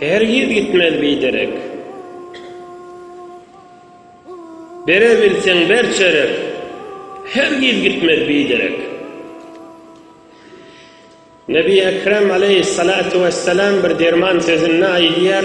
Hergiz gitmez biderek. Berebilseň ber çörek. Hergiz gitmez biderek. Nebi Ekrem aleýhissalatu wessalam bir derman sözünde aýdýar,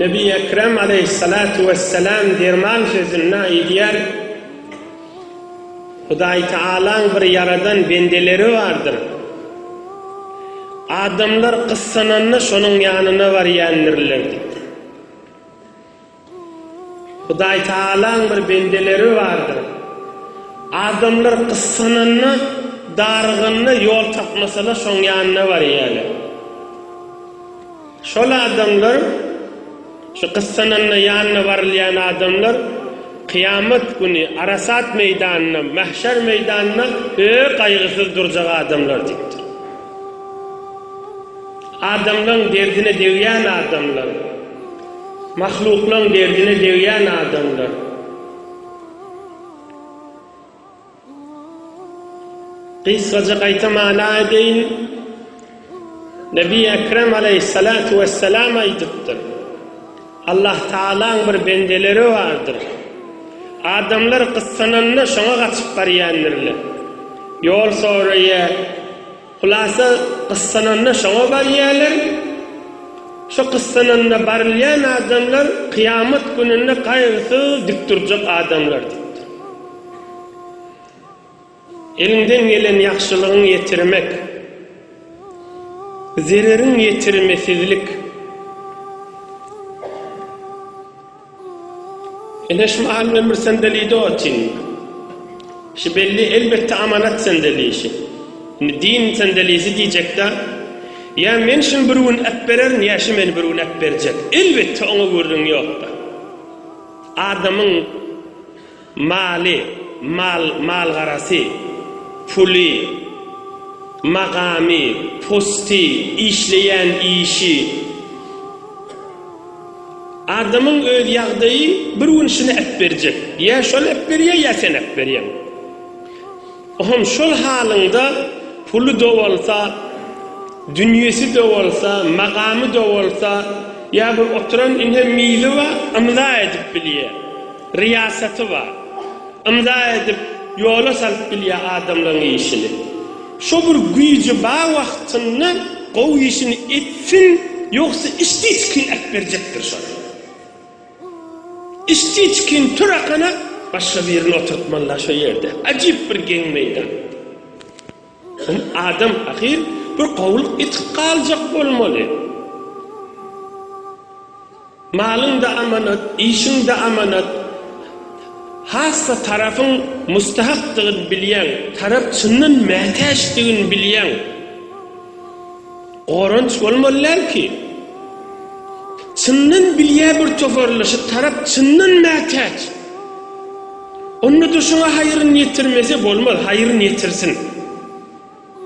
Nebi Ekrem aleýhissalatu wessalam derman sözünde aýdýar, Hudaýtagalaň bir ýaradan bendeleri bardyr. Adamlar gyssananda şonuň ýanyna barýandirler diýip. Hudaýtagalaň bir bendeleri bardyr. Adamlar gyssananda, daryganda ýol tapmasalar şoň ýanyna barýarlar. Şol adamlar, şu gyssananda ýanyna barylýan adamlar kyýamat güni Arasat meýdanynda, Mähşer meýdanynda öe gaýgysyz durjak adamlar diýipdir. Adamlaň derdine degýän adamlar. Mahluklaň derdine degýän adamlar. Gysgaja gaýta mana edeýin. Nebi Ekrem aleýhissalatu wessalam aýdypdyr. Allah Tagalaň bir bendeleri bardyr. Adamlar gyssananda şoňa gaçyp barýandirler. Ýol soraýar. Hulasa gyssananda şoňa barýarlar. Şo gyssananda barylýan adamlar kyýamat gününde gaýgysyz dik durjak adamlar diýipdir. Eliňden gelen ýagşylygyňy ýetirmek, zereriň ýetirmesizlik. Eneş mahal ömür sendelidi o tin. Şi belli elbetde amanat sendelişi. Indi din sendelisi diýjekda, ýa men şini bir gün äpbererin ýa şi meni bir gün äpberjek. Elbetde oňa gürrüň ýokda. Adamyň. Maly, mal, malgarasy, puly, magamy, posty, işleýän işi. Adamyň öz ýagdaýy bir gün şuny äpberjek. Ýa şol äpberýär, ýa sen äpberýäň. O hem şol halyňda puly-da bolsa, dünýesi-de bolsa, magamy-da bolsa, ýa bir oturan ine mizi bar, ymza edip bilýär. Ryýasaty bar. Ymza edip ýola salyp bilýär adamlaryň işini. Şo bir güýji bar wagtynda gowy işini etsin ýogsa işdiçkin äpberjekdir şony. Işdiçkin tur akana başga birini oturtmalylar şo ýerde. Ajyp bir geň meýdan. Ony adam ahyr bir gowulyk etip galjak bolmaly. Malyň-da amanat, işiň-de amanat. Hassa tarapyň mustahakdygyny bilýäň, tarap çyndan mätäçdigini bilýäň. Goranç bolmaly däl ki. Çyndan bilýä bir tofarly şu tarap çyndan mätäç. Onda-da şoňa haýyryn ýetirmese bolmaz, haýyryn ýetirsin.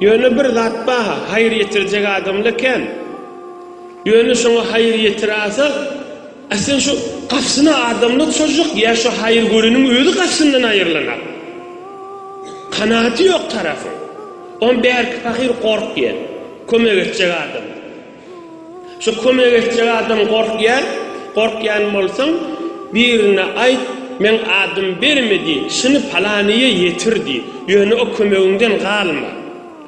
Ýöne bir zat ba-ha, haýyr ýetirjek adamla kän. Ýöne şoňa haýyr ýetirasa, A sen şu gapsyna adamlar çozjak ýa şu haýyr göreniň özi gapsyndan aýyrlanak? Kanaty ýok tarapyň. On bärki pahyr gorkýar. Kömek etjek adam. Şu kömek etjek adam gorkýar. Gorkýan bolsaň, birine aýt, meň adym berme diý, şuny palanyýa ýetir diý. Ýöne o kömegiňden galma.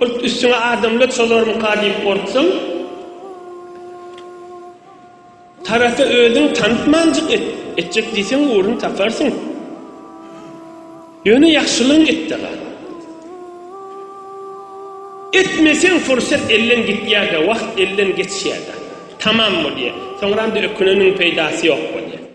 Urt üstüňe adamlar şolarmyka diýip gorksaň, tarasa özüň tanypmanjyk et, etjek diýseň ugrun taparsyň. Ýöne ýagşylygyň etde gal. Etmeseň fursat elden gitýär-de, wagt elden geçýär-de. Tamam bolýar. Soňra-da öküneniň peýdasy ýok bolýar.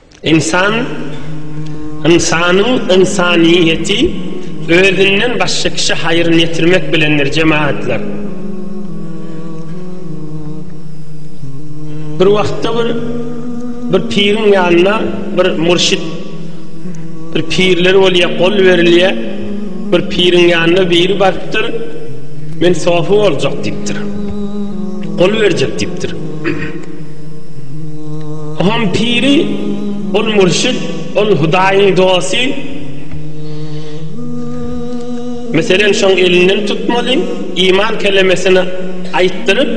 Ynsan, ynsanyň ynsanyýeti özünden başga kişä haýryn ýetirmek bilendir, jemagatlar. Bir wagtda bir bir piriň ýanyna bir murşit bir pirler bolýar, gol berilýär. Bir piriň ýanyna biri barypdyr. Men sofi boljak diýipdir. Gol berjek diýipdir. Hom piri, ol mürşit, ol Hudaýyň dosty. Meselem, şoň elinden tutmaly, iman kelemesini aýtdyryp,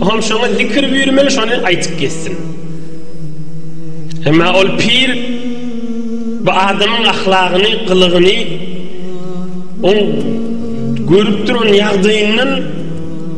hom şoňa zikir buýurmaly, şony aýtyp gezsin. Emma ol pir bu adamyň ahlagyny, gylygyny, oň görüp duran ýagdaýyndan,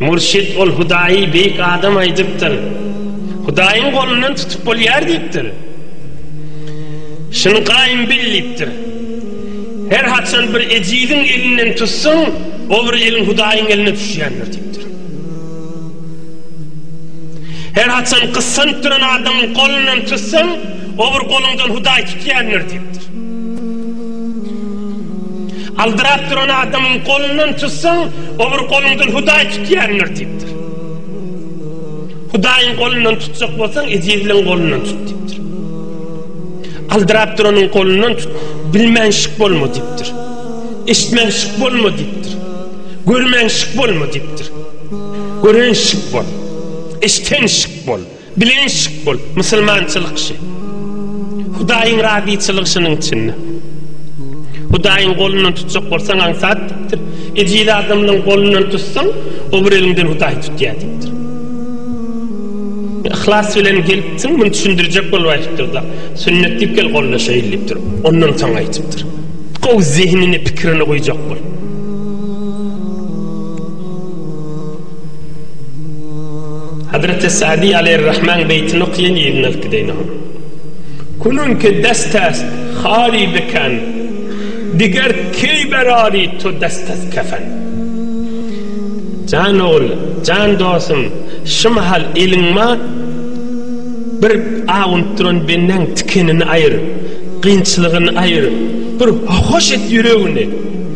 Mürşit ol Hudaýy beýik adam aýdypdyr. Hudaýyň golundan tutup bolýar diýipdir. Şuny gaýym bil diýipdir. Her haçan bir ejiziň elinden tutsaň, o bir eliň Hudaýyň eline düşýändir diýipdir. Her haçan gyssanyp duran adamyň golundan tutsaň, o bir goluňdan Hudaý tutýandyr diýipdir. Aldyrap duran adamyň golundan tutsaň, obry goluňdan Hudaý tutýandyr diýipdir. Hudaýyň golundan tutjak bolsaň, ezizligiň golundan tut diýipdir. Aldyrap duranyň golundan tut, bilmänşik bolma diýipdir. Eşitmänşik bolma diýipdir. Görmänşik bolma diýipdir. Görenşik bol. Eşitenşik bol. Bilenşik bol, musulmançylyk şi. Hudaýyň razyçylygy şunuň içinde. Hudaýyň golundan tutjak bolsaň aňsat diýipdir. Ejiz adamlaň golundan tutsaň, o bir eliňden Hudaý tutýar diýipdir. Yhlas bilen gelipsiň, muny düşündirjek bolup aýdypdyr-da, sünnet diýip gel gollaşaýyl diýipdir. Ondan soň aýdypdyr. Gowy zehnini, pikirini goýjak bol. Hazreti Sa'di aleyhir-Rahman beýtini okýan ýerinden alyp gideýin oňa. Kulun ki destest hali biken, diger keý berari to destest kefen. Jan ogul, jan dostum, şu mahal eliňma bir awunyp duran bendäň tikenini aýyr, kynçylygyny aýyr, bir hoş et ýüregini.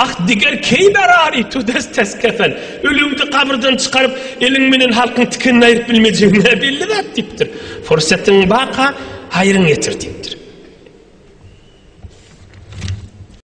Ah, diger keýberari, tudes tes kefel. Ölüňdi gabyrdan çykaryp, eliň menen halkyň tikenini aýryp bilmejegiň näbelli zat, diýipdir. Pursatyň baka, haýryň ýetir, diýipdir.